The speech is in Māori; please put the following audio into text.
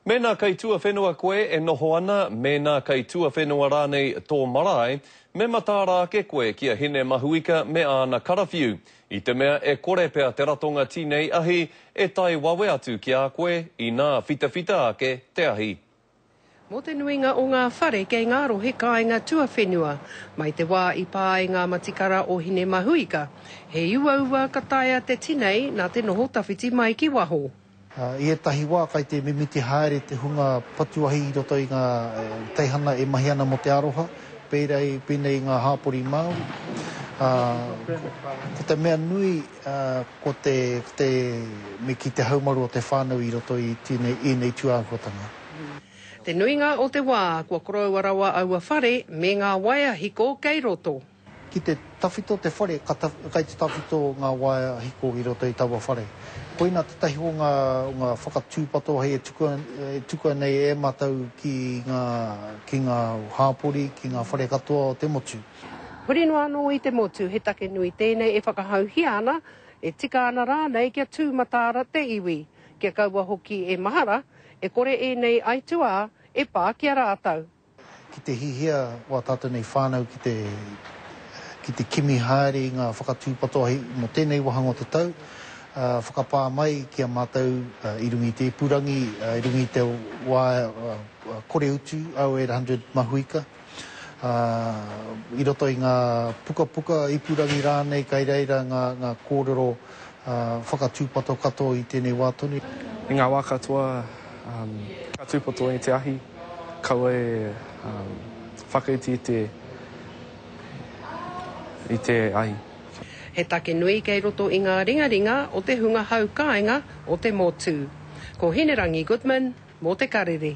Mēnā kei tuawhenua koe e noho ana, mēnā kei tuawhenua rānei tō marae, me mataara ake koe ki a Hine Mahuika me āna karawhiu, i te mea e kore pea te ratonga tinei ahi e tae wawe atu ki a koe inā whitawhita ake te ahi. Mō te nuinga o ngā whare kei ngā rohe kāinga tuawhenua, mai te wā i pā ai ngā matikara o Hine Mahuika, he uaua ka taea te tinei nā te noho tawhiti mai ki waho. I ētahi wā kai te mimiti haere te hunga patuahi i roto i ngā teihana e mahi ana mō te aroha, pērā i pēnei i ngā hāpori Māori. Ko te mea nui ko te me kī te haumaru o te whānau i roto i ēnei tūāhuatanga. Te nuinga o te wā kua koroua rawa aua whare me ngā waea hiko kei roto. Ki te tawhito te whare, ka kai te tawhito ngā waea hiko i roto i taua whare. Koina tētahi o ngā whakatūpato hei e tukua nei e mātou ki ngā, ki ngā hāpori, ki ngā whare katoa o te motu. Huri noa anō i te motu, he take nui tēnei e whakahauhia ana, e tika ana rānei kia tū mataara te iwi, kia kaua hoki e mahara, e kore ēnei aituā e pā ki a rātou. Ki te hihia wā tātou nei whānau ki te ki te kimi haere i ngā whakatūpatoahi mō tēnei wāhanga o te tau, whakapā mai ki a mātou i runga i te ipurangi, i runga i te wā kore utu au e 800 mahuika, i roto i ngā pukapuka, ipurangi rānei, kai reira ngā kōrero. whakatūpato katoa i tēnei wā tonu. I ngā wā katoa, ka tūpato i te ahi, kaua e whakaiti i te ahi. He take nui kei roto i ngā ringaringa o te hunga hau kāinga o te motu. Ko Hinerangi Goodman mō Te Karere.